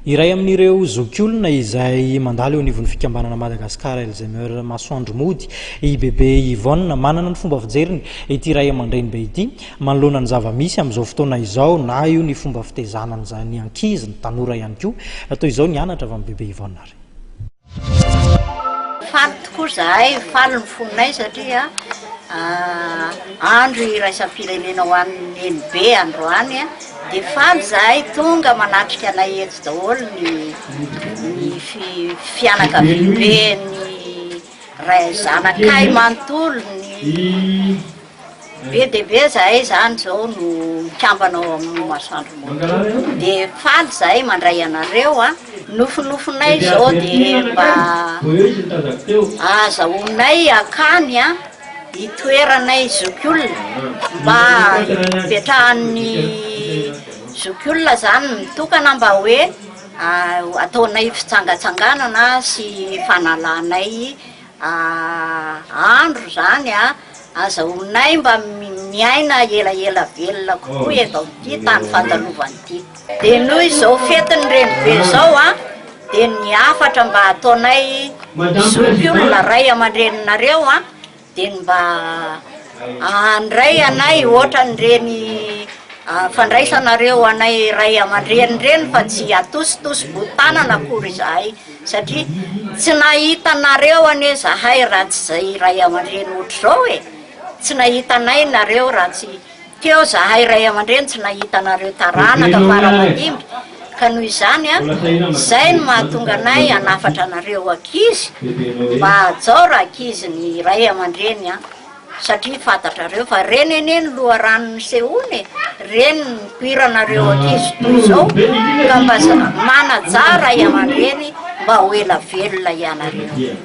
Iray amin'ireo zokiolona izay mandalo eo anivon'ny fikambanana Madagascar Alzheimer Masoandro mody i Bebe Yvonne. Manana ny fomba fijeriny ity ray aman-dreny be ity manoloana ny zava-misy amin'izao fotoana izao na io ny fomba fitezana ny ankizy, ny tanora ihany koa. Toy izao ny anatra avy amin'i Bebe Yvonne ary. Faly tokoa izahay, faly ny fonay satria andro iraisam-pirenena ho an'ny NB androany dia faly izahay tonga manatrika anay eto daholo ny fianakaviamben'ny ray zanakay manontolo ny Be dia be izahay izany izao no mikambana ao amin'ny masoandro moto dia faly izahay mandray anareo an! nofinofinay izao dia mba ahazahoanay hakany an! itoeranay zokiolona mba hipetrahan'ny zokiolona izany mitokana mba hoe ataonay fitsangatsanganana sy fanalanay Aah andro zany a! Aza honay mba miaina elaela velona kokoa eto amin'ity tany fandalovana ity. Dia noho izao fetin'ny renibe izao a, dia ny hafatra mba ataonay zoky olona ray aman-dreninareo a, dia ny mba handray anay ohatran'ireny fandraisanareo anay ray aman-dreny ireny fa tsy atositosy boho tanana akory izahay. Satria tsy nahita anareo anie zahay raha tsy zay ray aman-dreny ohatr'izao e! Tsy nahita anay nareo raha tsy teo zahay ray aman-dreny tsy nahita anareo taranaka fara mandimby ka noho izany a! Zay no mahatonga anay hanafatra anareo ankizy mba hajao rankizy ny ray aman-dreny a! satria fantatrareo fa reny anie ny loharano nisehoana e, reny ny nipoiranareo ankizy toy izao ka mba manaja ray aman-dreny mba ho ela velona ianareo.